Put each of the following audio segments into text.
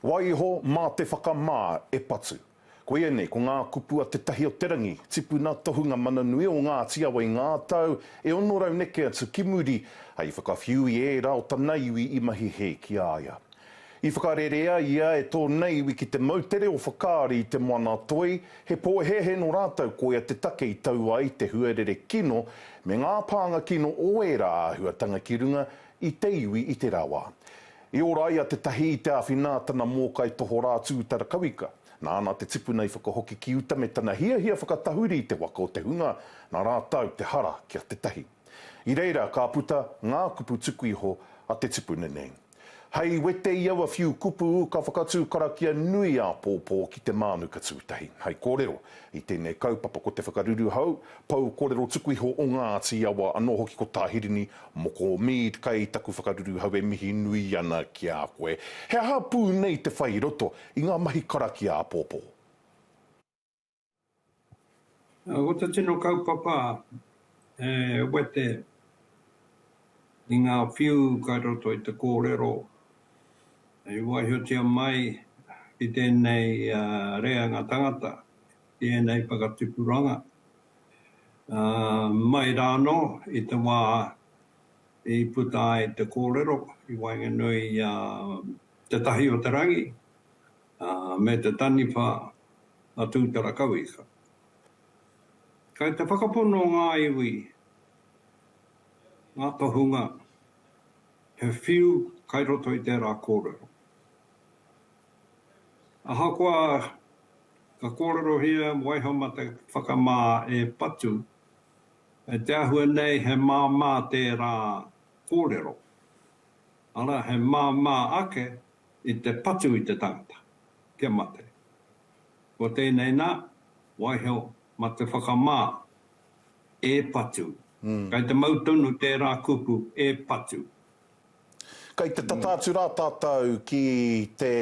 Wai iho mā te whakamā e patu. Koia nei, ko ngā kupu a Te Tahi o te Rangi, tipuna tohunga mana nui o Ngāti Awa i ngā tau e 600 neke atu ki muri, hei whakawhiu i ērā o tana iwi i mahi hē ki a ia. I whakarerea ia e tōna iwi ki te moutere o Whakaari i Te Moana-a-Toi, he pōhēhē nō rātou koia te take i tau ai te huarere kino me ngā pānga kino o ērā āhuatanga ki runga i te iwi i tērā wā. I ora ai a Te Tahī i te āwhina a tana mōkai tohorā Tūtara Kawika. Nāna te tipuna i whakahoki ki uta me tana hiahia whakatahuri i te waka o te hunga, nā rātau te hara ki a Te Tahī. I reira ka puta ngā kupu tuku iho a te tipuna nei. Hei wete i aua whiu kupu ka whakatū karakia nui āpōpō ki te mānuka tūtahi. Hei kōrero, i tēnei kaupapa ko te whakaruru hou, Pou korero tuku iho o Ngati Awa ano hoki ko Tahirini, moko o Mead kai taku whakaruru hau e mihi nui ana ki a koe. He aha pu nei te whai roto i nga mahi karakia apopo? Ko te tino kaupapa e wete i nga whiu kai roto i te korero i waihotia mai ki tenei reanga tangata i ēnei whakatupuranga, ā, mai rānō i te wā i puta ai te kōrero i waenganui i a Te Tahi-o-te-rangi me te taniwha a Tūtarakauika. Kei te whakapono ngā iwi, ngā tohunga, he whiu kai roto i tērā kōrero. Ahakoa ka kōrerohia waihomata whakamā e patu, kei te āhua nei he māmā tērā kōrero, arā he māmā ake i te patu i te tangata kia mate. Ko tēnei nā, waiho mate whakamā e patu. Kei te mau tonu tērā kupu e patu. Kei te tata atu rā tātou ki te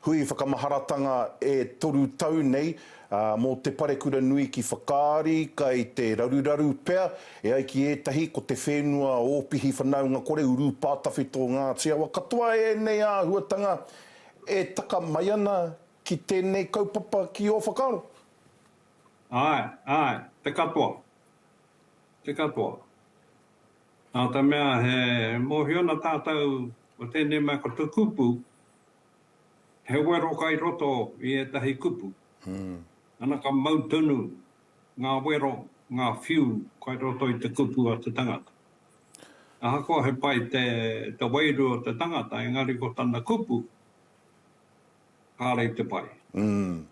hui whakamaharatanga e toru tau nei mō te parekura nui ki Whakaari, kei te raruraru pea, e ai ki ētahi, ko te whenua Ōpihi Whanaunga Kore, Urupā Tawhito Ngāti Awa. Katoa ēnei āhuatanga e taka mai ana ki tēnei kaupapa ki ō whakaaro? Āe, āe, te katoa, te katoa. Nā te mea he mōhio ana tātou ko tēnei mea ko te kupu, he wero kai roto i ētahi kupu. Ana ka mau tonu ngā wero, ngā whiu kai roto i te kupu a te tangata. Ahakoa he pai te wairua o te tangata engari ko tana kupu, Kāre te pai. Umm.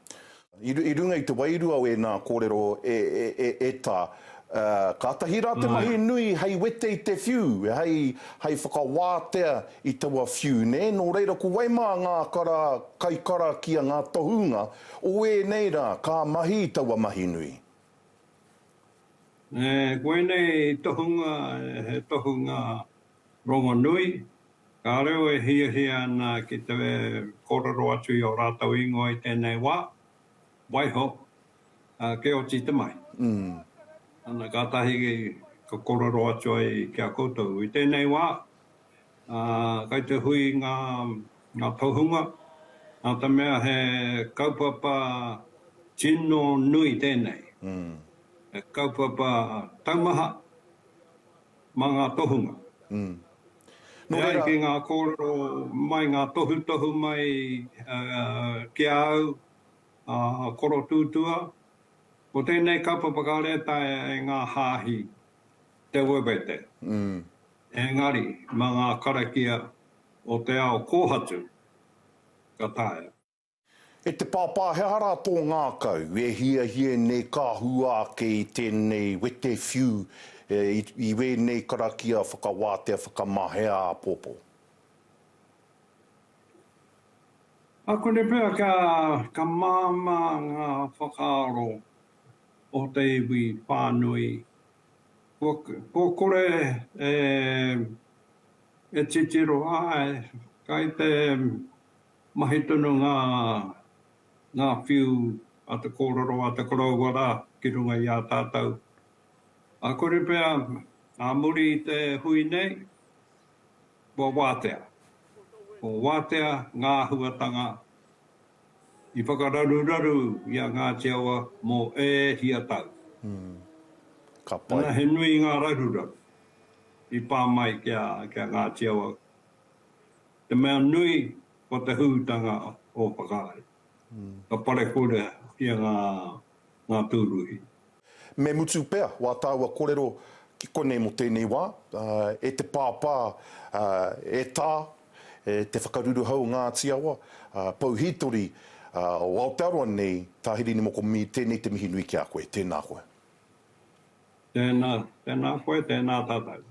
I runga i te wairua o ēnā kōrero e, e, e tā, kātahi rā te mahi nui hei wete i te whiu, hei, hei whakawātea i taua whiu, nē? Nō reira, ko wai mā ngā kara, kaikarakia, ngā tohunga o ēnei rā ka mahi i taua mahi nui? Nē, ko ēnei tohunga, he tohunga Rongonui, Ka reo e hiahia ana ki te kōrero atu i ō rātou ingoa i tēnei wā, waiho, ā, kia oti te mahi. Ana kātahi ka kōrero atu ai ki a koutou i tēnei wā, ā, kai te hui ngā, ngā tohunga, nā te mea he kaupapa tino nui tēnei, he kaupapa taumaha, mā ngā tohunga. Nō reira. E ai ki ngā kōrero mai, ngā tohutohu mai ki a au, a Koro Tūtua, ko tēnei kapa whakarētaia e ngā hāhi te wewete. Engari, mā ngā karakia o te ao kōhatu ka taea. E te Pāpā, he aha rā tō ngākau? E hiahia nei ka hua ake i tēnei wete whiu i wēnei karakia whakawātea whakamahea āpōpō. Ā kore pea ka māmā ngā whakaaro o te iwi whānui. Kua kore e titiro ai, kai te Mahi tonu ngā, ngā whiu a te kōrero a te koroua rā ki runga i a tātou. Ā kore pea, ā muri i te hui nei, kua wātea. Kua wātea ngā āhuatanga i whakararuraru i a Ngāti Awa mō ē hia tau. Ka pai. Ana he nui ngā raruraru i pā mai ki a, ki a Ngāti Awa. Te mea nui, ko te hūtanga o Whakaari, ka parekura ki a ngā tūruhi. Me mutu pea wā tāua korero ki konei mō tēnei wā, e te Pāpā, e Tā, e te Whakaruruhau o Ngāti Awa, Pou Hītori o Aotearoa nei, Tā Hirini Moko Mīr, tēnei te mihi nui ki a koe. Tēnā koe. Tēnā, tēnā koe, tēnā tātou.